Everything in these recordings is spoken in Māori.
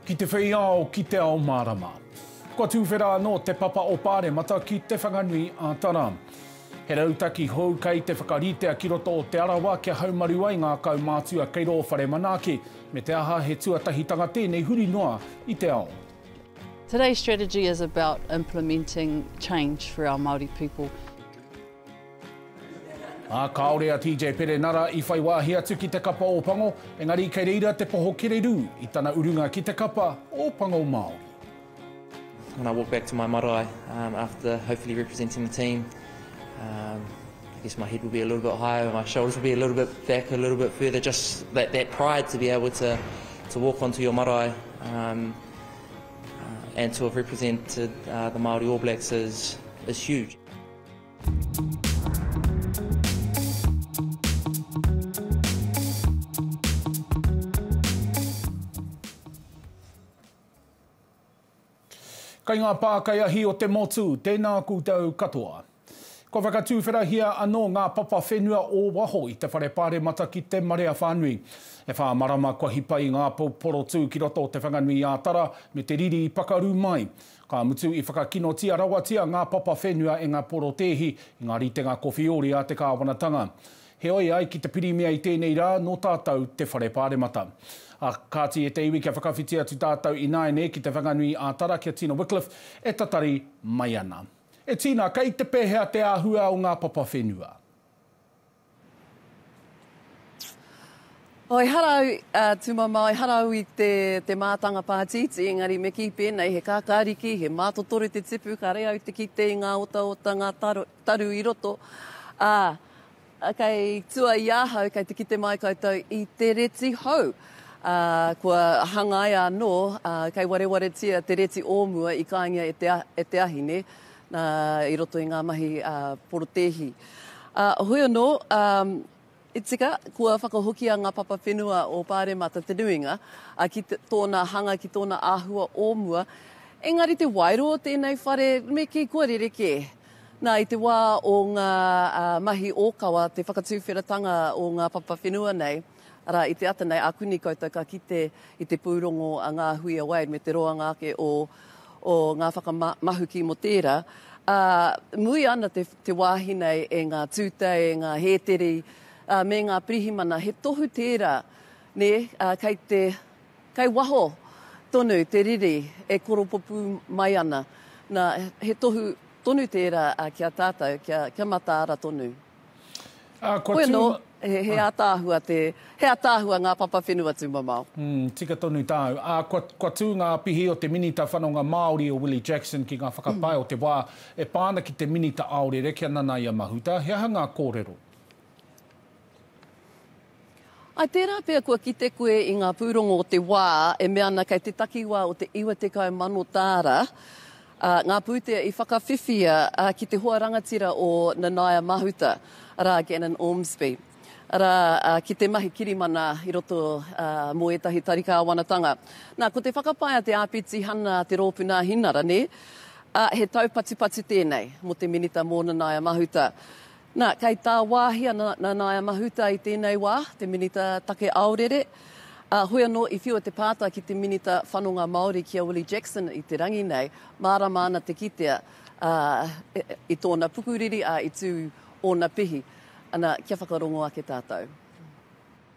Ki te whei ao, ki te ao mārama. Kua tūwhera anō te papa o Pāremata ki Te Whanganui a Tara. He rautaki hou kei te whakaritea ki roto o Te Arawa kia haumaru ai ngā kaumātua kei rō whare manaaki, me te aha he tuatahitanga tēnei huri noa i te ao. Today's strategy is about implementing change for our Māori people. Ā, kāore a TJ Perenara i whai wāhi atu ki te kapa Ōpango, engari kei reira te poho kererū i tana urunga ki te kapa Ōpango Māori. When I walk back to my marae um after hopefully representing the team um I guess my head will be a little bit higher and my shoulders will be a little bit back a little bit further just that that pride to be able to to walk onto your marae um And to have represented the Māori All Blacks is huge. Kei ngā pākaiahi o te motu, tēnā koutou katoa. Kua whakatūwherahia anō ngā papa whenua o waho i te whare pāremata ki te marea whānui. E whā marama kua hipa i ngā pou porotū ki roto o Te Whanganui-ā-Tara me te riri i pakaru mai. Ka mutu i whakakinotia rawatia ngā papa whenua e ngā porotēhi i ngā ritenga kowhiori a te kāwanatanga. Heoi, ai ki te Pirimia i tēnei rā, nō tātou te whare pāremata. Ā, kāti e te iwi kia whakawhiti atu tātou ināianei ki Te Whanganui-ā-Tara, ki a Tina Wickliffe e tatari mai ana. E Tina, kei te pehea te ahua o nga papa whenua? Ehara au, a Tumamao, ehara au i te, te mātanga pātītī, engari me kī pēnei, he kākāriki, he mātotoro te tipu, kāre au te kite i ngā otaota, ngā taru i roto, ā, Kei tua i ahau, kei te kite mai koutou i te reti hou, ā, kua hangaia anō, ā, kei warewaretia te reti o mua i kāingia e te, e te ahine, nā, i roto i ngā mahi, ā, porotēhi. Ā, hoi anō, ā, i tika, kua whakahokia ngā papa whenua o Pāremata te nuinga, ā, ki te, tōna hanga, ki tōna āhua o mua, engari te waero o tēnei whare, me kī, kua rerekē. Nā, i te wā o ngā mahi ōkawa, te whakatūwheratanga o ngā papa whenua nei, arā, i te ata nei, ākuni koutou ka kite i te pūrongo a Ngā Hui a Wade me te roanga ake o o ngā whakamahuki mō tērā, ā, mui ana te te wāhi nei e ngā tūtei, e ngā hēteri, ā, me ngā pirihimana, he tohu tērā, nē, ā, kei te Kei waho tonu te riri e koropopū mai ana. Na, he tohu tonu tērā ki a tātou kia mataara tonu. Hoi anō, he ātaahua te, he ātaahua ngā papa whenua tūmamao. Umm, tika tonu tāu. Ā, kua tū ngā pihi o te Minita Whanonga Māori o Willie Jackson ki ngā whakapae o te wā e pā ana ki te Minita Aorere kia nanaia mahuta. He aha ngā kōrero? I tērā pea kua kite koe i ngā pūrongo o te wā e mea ana kei te takiwā o te 90,000 tāra ngā pūtea i whakawhiwhia ki te hoa rangatira o Nanaia Mahuta, arā, Gannon Ormsby, arā, ki te mahi kirimana i roto mō ētahi tari kāwanatanga. Nā, ko te whakapae a te Āpiti Hana Te Rōpū Nāhinara, nē, he taupatupatu tēnei mō te Minita mō Nanaia Mahuta. Nā, kei tāwāhi a Nanaia Mahuta i tēnei wā, te Minita Take Aorere, ā, hoi anō i whiua te pātai ki te Minita Whanonga Māori, ki a Willie Jackson i te rangi nei, mārama ana te kitea, ā, i tōna pukuriri, ā, i tū ōna pihi. Ana, kia whakarongo ake tātou.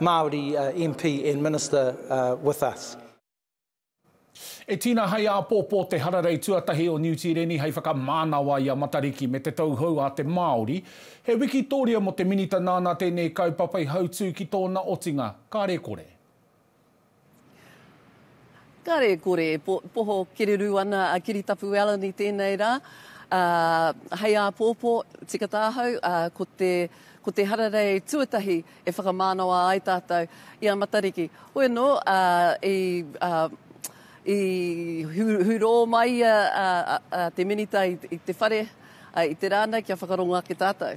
Māori MP and Minister with us. E tina hai āpōpō te hararei tuatahi o Niu Tīreni hei whakamānawa i a Matariki me te Tauhou a te Māori. He wikitōria mō te Minita nāna tēnei kaupapa i hautū ki tōna otinga, kāre kore. Kare kore e poho kererū ana a Kiritapu Allan i tēnei rā. Hei āpōpō, tika tāhau, ko te, ko te hararei tuatahi e whakamānawa ai tātou i a Matariki. Hoi anō, i, i hurō mai ia te minita i te whare i te rā nei kia whakarongo ake tātou.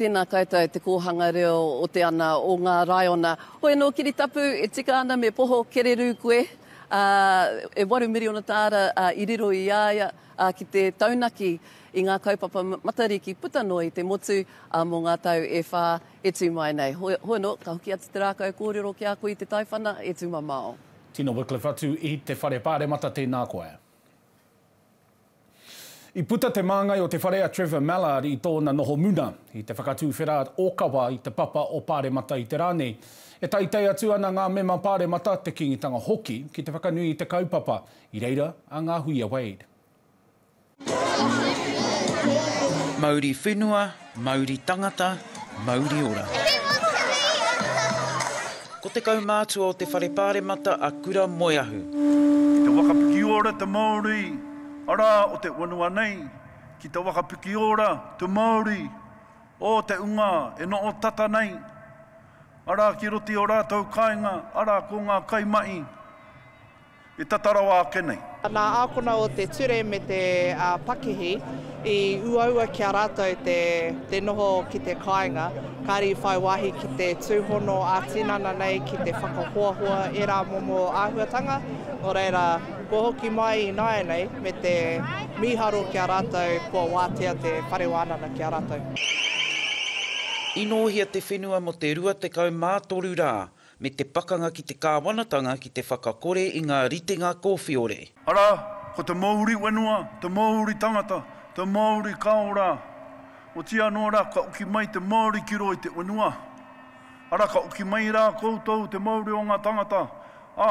Tēnā koutou Te Kōhanga Reo o te Ana o ngā Raiona. Hoi anō Kiritapu, e tika ana me poho kererū koe, ā, e waru miriona tāra i riro i a ia ki te taunaki i ngā kaupapa Matariki puta noa i te motu mō ngā tau e whā e tū mai nei. Hoi anō, ka hoki atu te rākau kōrero ki a koe i te taiwhana e tū mamao. Tino Wycliffe atu i te Whare Pāremata, tēnā koe. I puta te māngai o te whare a Trevor Mallard i tōna noho muna, i te whakatuwhera ōkawa i te papa o Pāremata i te rā nei. E teitei atu ana ngā mema Pāremata, te Kīngitanga hoki, ki te whakanui i te kaupapa, i reira a Ngāhuia Wade. Mauri whenua, Mauri tangata, mauri ora. Ko te kaumātua o te Whare Pāremata a Kura Moeahu. Ki te waka pikiora te Māori arā o te whenua nei, ki te waka pikiora te Māori o te unga e noho tata nei, arā ki roto i o rātou kāinga, arā ko ngā kaimahi, E tata rawa ake nei. Nā ākona o te ture me te pakihi i uaua ki a rātou te noho ki te kāinga, kāre i whai wāhi ki te tūhono ā-tinana nei ki te whakahoahoa ērā momo āhuatanga, nō reira, kua hoki mai ināianei me te mīharo ki a rātou kua wātea te Whare Wānanga ki a rātou. Inōhia te whenua mō te 23 rā. me te pakanga ki te kāwanatanga ki te whakakore i ngā ritenga kōwhiore. Arā, ko te Māori whenua, te Māori tangata, te Māori kao rā. Otiia anō rā, ka uki mai te Māori ki roa i te whenua. Arā, ka uki mai rā koutou, te Māori o ngā tangata, ā,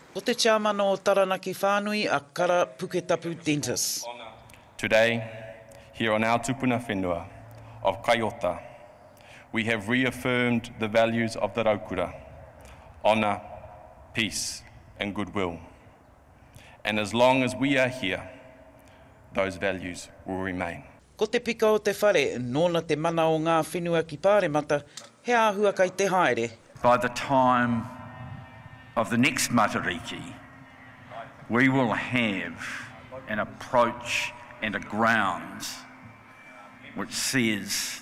Ko te Tiamana o Taranaki Whānui a Kara Puketapu Dentis. Today, here on our tupuna whenua of Kai Ota, we have reaffirmed the values of the Raukura, honour, peace and goodwill. And as long as we are here, those values will remain. Ko te pika o te whare, nōna te mana o ngā whenua ki Pāremata, he āhua kai te haere. By the time of the next Matariki, we will have an approach and a grounds which says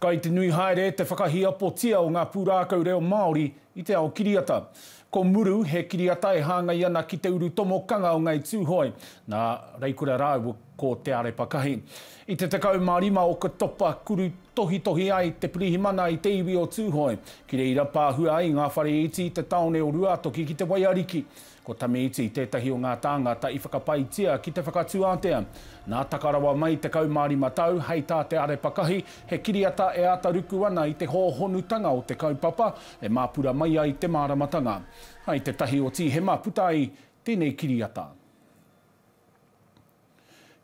Kai te nui haere te whakahiapotia o ngā pūrākau reo Māori i te ao kiriata. Ko Muru he kiriata e hāngai ana ki te uru tomokanga o Ngāi Tūhoe, nā Reikura rāua ko Te Arepakahi. I te 15 Oketopa kuru tohitohi ai te pirihimana i te iwi o Tūhoe, ki reira pāhua ai ngā whare iti i te tāone o Ruātoki ki te waiariki. Ko Tamiiti tētahi o ngā tāngata i whakapaetia ki te whakatū ātea. Nā taka rawa mai 15 tau, hei tā Te Arepakahi, he kiriata e āta ruku ana i te hōhonutanga o te kaupapa e māpura mai ai te māramatanga. I te tahi o Tīhema puta ai tēnei kiriata.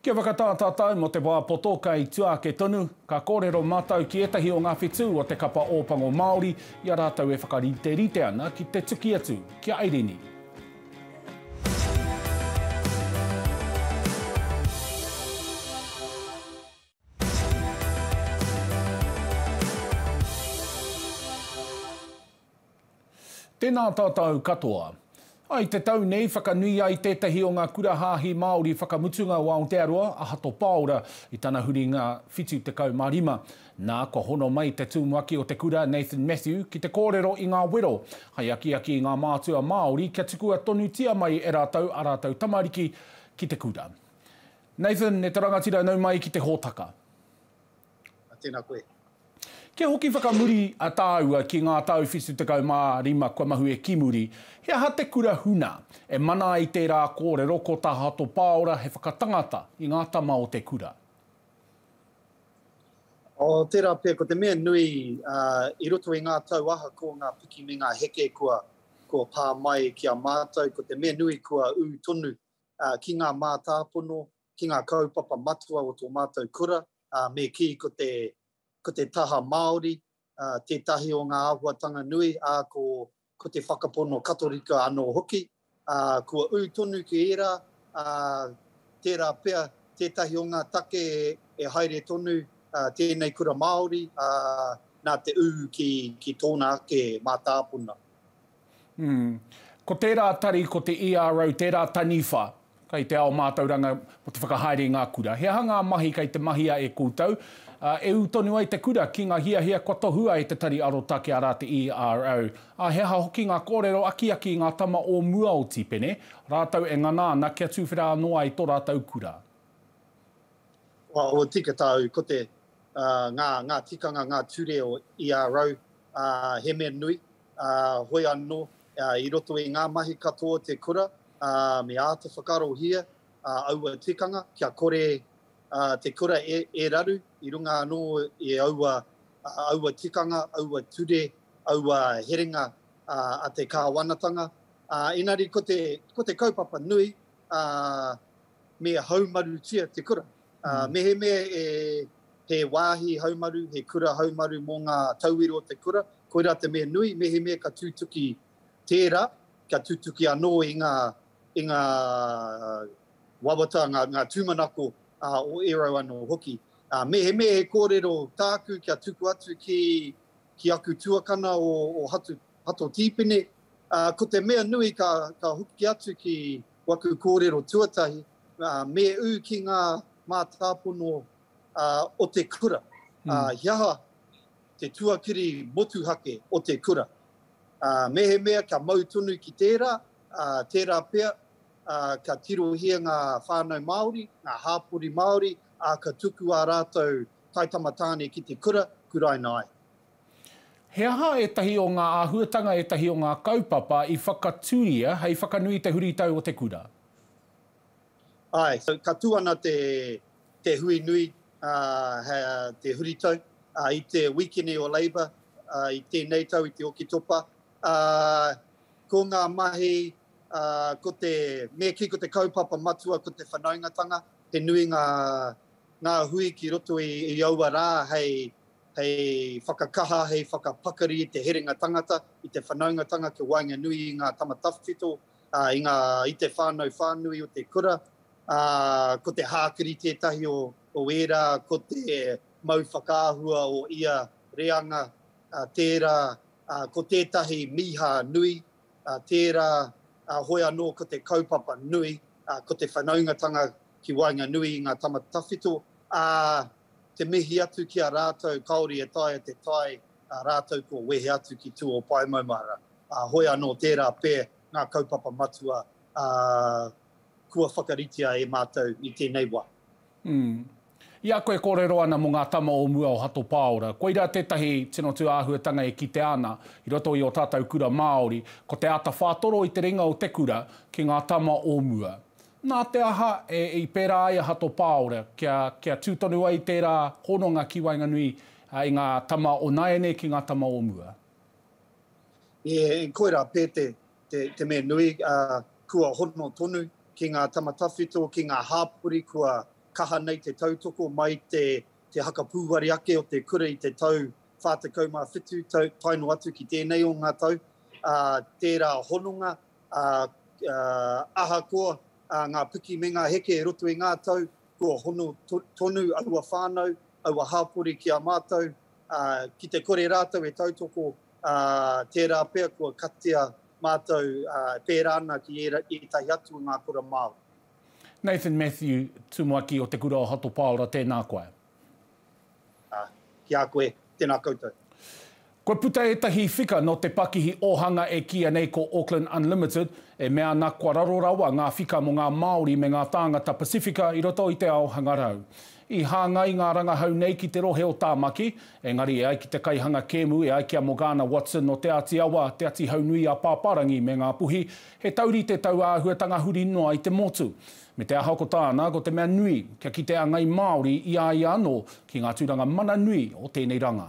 Kia whakatā tātou mō te wā poto kei tua ake tonu, ka kōrero mātou ki ētahi o ngā whetū o te Kapa Ōpango Māori i a rātou e whakariterite ana ki te tuki atu ki a Airini. Tēnā tātou katoa. I te tau nei, whakanui ai tētahi o ngā kura hāhi Māori whakamutunga o Aotearoa, a Hato Pāora, i tana huringa 75. Nā, kua hono mai te tumuaki o te kura, Nathan Matthew, ki te kōrero i ngā wero, hei akiaki i ngā mātua Māori kia tukua tonutia mai e rātou ā rātou tamariki ki te kura. Nathan, e te rangatira nau mai ki te hōtaka. A, tēnā koe. Kia hoki whakamuri a tāua ki ngā tau whitu tekau mā rima kua mahue ki muri, he aha te kura huna e mana ai tērā kōrero ko Tahato Pāora he whakatangata i ngā tama o te kura? O, tērā pea, ko te mea nui, a, i roto i ngā tau ahakoa ngā piki me ngā heke kua, kua pā mai ki a mātou, ko te mea nui kua ū tonu ki ngā mātāpono, ki ngā kaupapa matua o tō mātou kura, me kī ko te, ko te taha Māori tētahi o ngā āhuatanga nui, ā, ko, ko te whakapono Katorika anō hoki. Kua ū tonu ki ērā, ā, tērā pea tētahi o ngā take e haere tonu tēnei kura Māori, ā, nā te ū ki, ki tōna ake mātāpono. Ko tērā tari, ko te ERO, tērā taniwha kei te ao mātauranga mō te whakahaere i ngā kura. He aha ngā mahi kei te mahia e koutou? E ū tonu ai te kura ki ngā hiahia kua tohua e Te Tari Arotake, arā te ERO. Ā, he aha hoki ngā kōrero akiaki i ngā tama o mua o Tipene, rātou e ngana ana kia tuwhera anō ai tō rātou kura? Ua tika tāu, ko te, ngā, ngā tikanga, ngā ture o ERO, he mea nui, ā, hoi anō, ā, i roto i ngā mahi katoa o te kura, ā, me āta whakaarohia, ā, aua tikanga, kia kore, ā, te kura e, e raru i runga anō i aua, ā, aua tikanga, aua ture, aua herenga, ā, a te Kāwanatanga. Ā, engari ko te, ko te kaupapa nui, ā, me haumarutia te kura. Mehemea he wāhi haumaru, he kura haumaru mō ngā tauira o te kura, koirā te mea nui, mehemea ka tūtuki tērā, ka tūtuki anō i ngā i ngā wawata, ngā tūmanako o ērau anō hoki. Mehemea he kōrero tāku kia tuku atu ki aku tuakana o Hato Tīpene, ko te mea nui ka hoki atu ki waku kōrero tuatahi, Me ū ki ngā mātāpono o te kura. He aha te tuakiri motuhake o te kura? Mehemea kia mau tonu ki tērā, tērā pea ka tirohia ngā whānau Māori, ngā hāpori Māori, ā, ka tuku ā rātou taitama tāne ki te kura, kuraina ai. He aha ētahi o ngā āhuatanga, ētahi o ngā kaupapa i whakatūria hei whakanui i te huritau o te kura? Ae, ka tu ana te hui nui, te huritau, i te wikini o Labour i tenei tau i te Oketopa. Ko nga mahi, ko te, me ki ko te kaupapa matua ko te whanaungatanga, he nui nga hui ki roto i aua ra hei whakakaha, hei whakapakari i te herenga tangata, i te whanaungatanga kia waenganui i nga tama tawhito i ngā, i te whānau whānui o te kura, ā, ko te hākiri tētahi o, o ērā, ko te mau whakaahua o ia reanga, ā, tērā, ā, ko tētahi mīhā nui, ā, tērā, ā, hoi anō ko te kaupapa nui, ā, ko te whanaungatanga ki waenganui i ngā tama tawhito, ā, te mihi atu ki a rātou kāore e taea te tae ā rātou kua wehe atu ki Tū-o-Paemaumahara, ā, hoi anō tērā pē ngā kaupapa matua ā kua whakaritea e mātou i tēnei wā. Mm. I a koe kōrero ana mō ngā tama o mua o Hato Pāora, koirā tētahi tino tū āhuatanga e kitea ana i roto i ō tātou kura Māori, ko te āta whātoro i te ringa o te kura ki ngā tama o mua. Nā te aha i pērā ai a Hato Pāora kia, kia tū tonu ai tērā hononga ki waenganui I ngā tama o nāianei ki ngā tama o mua. E, koirā pē te, te, te mea nui, ā, kua hono tonu ki ngā tama tawhito, ki ngā hāpori kua kaha nei te tautoko mai te, te haka pūware ake o te kura i te tau 47, tau, tae noa atu ki tēnei o ngā tau, ā, tērā hononga, ā, ā, ahakoa, ā, ngā piki me ngā heke e roto i ngā tau, kua hono to, tonu aua whānau aua hāpori ki a mātou, ā, ki te kore rātou e tautoko, ā, tērā pea kua katia mātou, ā, e pērā ana ki ēra, ētahi atu o ngā kura Māori. Nathan Matthew, Tumuaki o Te Kura o Hato Paora, tēnā koe. Ā, ki a koe, tēnā koutou. Kua puta ētahi whika nō te pakihi ōhanga e kīia nei ko Auckland Unlimited, e mea ana kua raro rawa ngā whika mō ngā Māori me ngā tāngata Pasifika i roto i te ao hangarau. I hāngai ngā rangahau nei ki te rohe o Tāmaki, engari e ai ki te kaihanga kēmu e ai ki a Morgana Watson o Te Āti Awa, Te Atihaunui-a-Pāpārangi me Ngā Puhi, he taurite taua āhuatanga huri noa i te motu. Me te aha ko tāna, ko te mea nui, kia kite a ngai Māori i a ia anō ki ngā tūranga mana nui o tēnei rangā.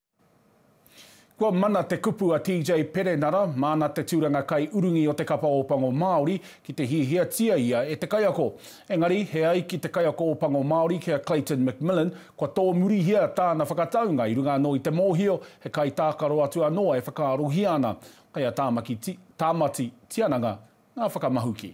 Kua mana te kupu a TJ Perenara, māna te tūranga kaiurungi o te Kapa Ōpango Māori, ki te hiahiatia ia e te kaiako. Engari, he ai ki te Kaiako Ōpango Māori ki a Clayton McMillan, kua tōmurihia tāna whakataunga i runga anō i te mōhio he kaitākaro atu anō e whakaarohia ana. Kei a Tāmati Tiananga ngā whakamahuki.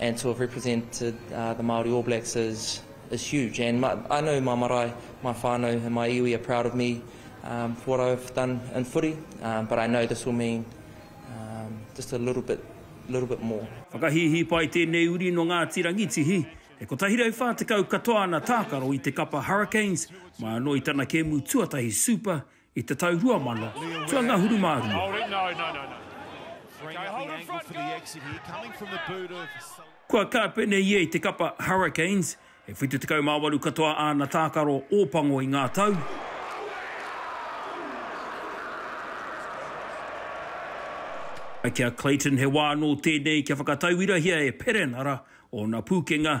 And to have represented the Māori All Blacks is is huge and I know my marae, my whānau and my iwi are proud of me for what I've done in footy but I know this will mean just a little bit little bit more. Whakahīhīpai tēnei uri nō Ngāti Rangitihi, e 140 katoa ana tākaro i te kapa Hurricanes, mai anō i tana kēmu tuatahi Super i te tau 2000, ki a Ngahuru mā rua. Kua kāpene ia i te kapa Hurricanes, e 78 katoa āna tākaro Ōpango i ngā tau, ā, ki a Clayton he wā anō tēnei kia whakatauirahia e Perenara ōna pūkenga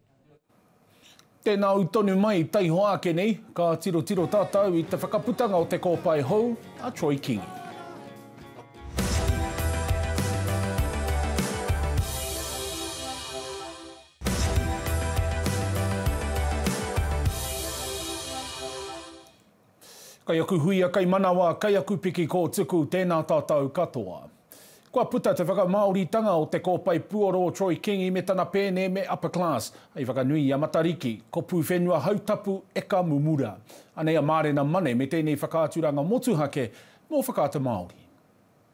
Tēnā au tonu mai, taihoa ake nei, ka tirotiro tātou i te whakaputanga o te kōpae hou a Troy Kingi. Kai aku huia, kai manawa, kai aku piki kōtuku, tēnā tātou katoa. Kua puta te whakamāoritanga o te kōpae puoro Troy Kingi me tana pēne me Upper Class hei whakanui i a Matariki, ko Pūwhenua Hautapu eka mumura. Anei a Mārena Mane me tēnei whakaaturanga motuhake mō Whakaata Māori.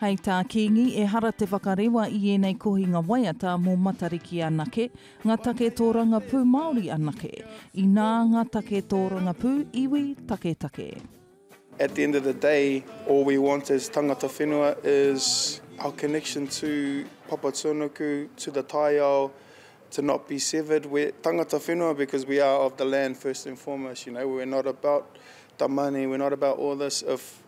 Hei tā Kīngi, ehara te whakarewa i ēnei kohinga waiata mō Matariki anake, ngā take tōrangapū Māori anake, inā ngā take tōrangapū iwi taketake. At the end of the day, all we want as tangata whenua is our connection to Papatūānuku, to the taiao, to not be severed, we're tangata whenua because we are of the land first and foremost, you know, we're not about the money, we're not about all this, if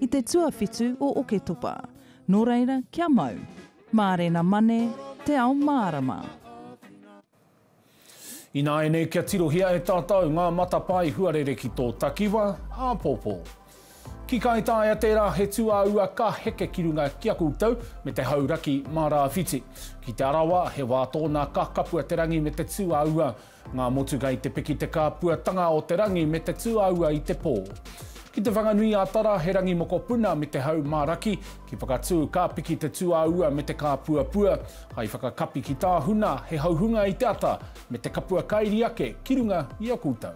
I te tuawhitu o Oketopa. Nō reira, kia mau. Mārena Mane, Te Ao Mārama. Ināianei kia tirohia e tātou ngā matapae huarere ki tō takiwa, āpōpō. Ki Kāi Taia tērā he tūāua ka heke ki runga ki a koutou me te hauraki mā rāwhiti. Ki Te Arawa he wā tōna ka kapua te rangi me te tūāua Ngā motuka i te piki te kāpuatanga o te rangi me te tūāua i te pō. Ki Te Whanganui-ā-Tara he rangi mokopuna me te hau mā raki, ki Whakatū ka piki te tūāua me te kāpuapua, hai whakakapi ki Tāhuna he hauhunga i te ata me te kapua kairi ake ki runga i a koutou.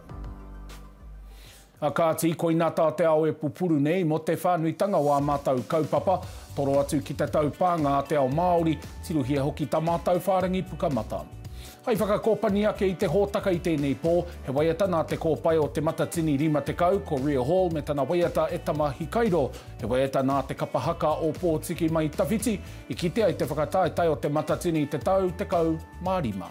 A kāti, koina tā te ao e pupuru nei mō te whānuitanga o ā mātou kaupapa, toro atu ki te taupānga a te ao Māori, tirohia hoki tā mātou whārangi pukamata. Hai whakakōpani ake i te hōtaka i tēnei pō, he waiata nā Te Kōpae o Te Matatini 50, ko Ria Hall me tana waiata e Tama Hikairo, he waiata nā Te Kapa Haka o Pōtiki mai tawhiti i kite ai te whakataetae o Te Matatini i te tau 15.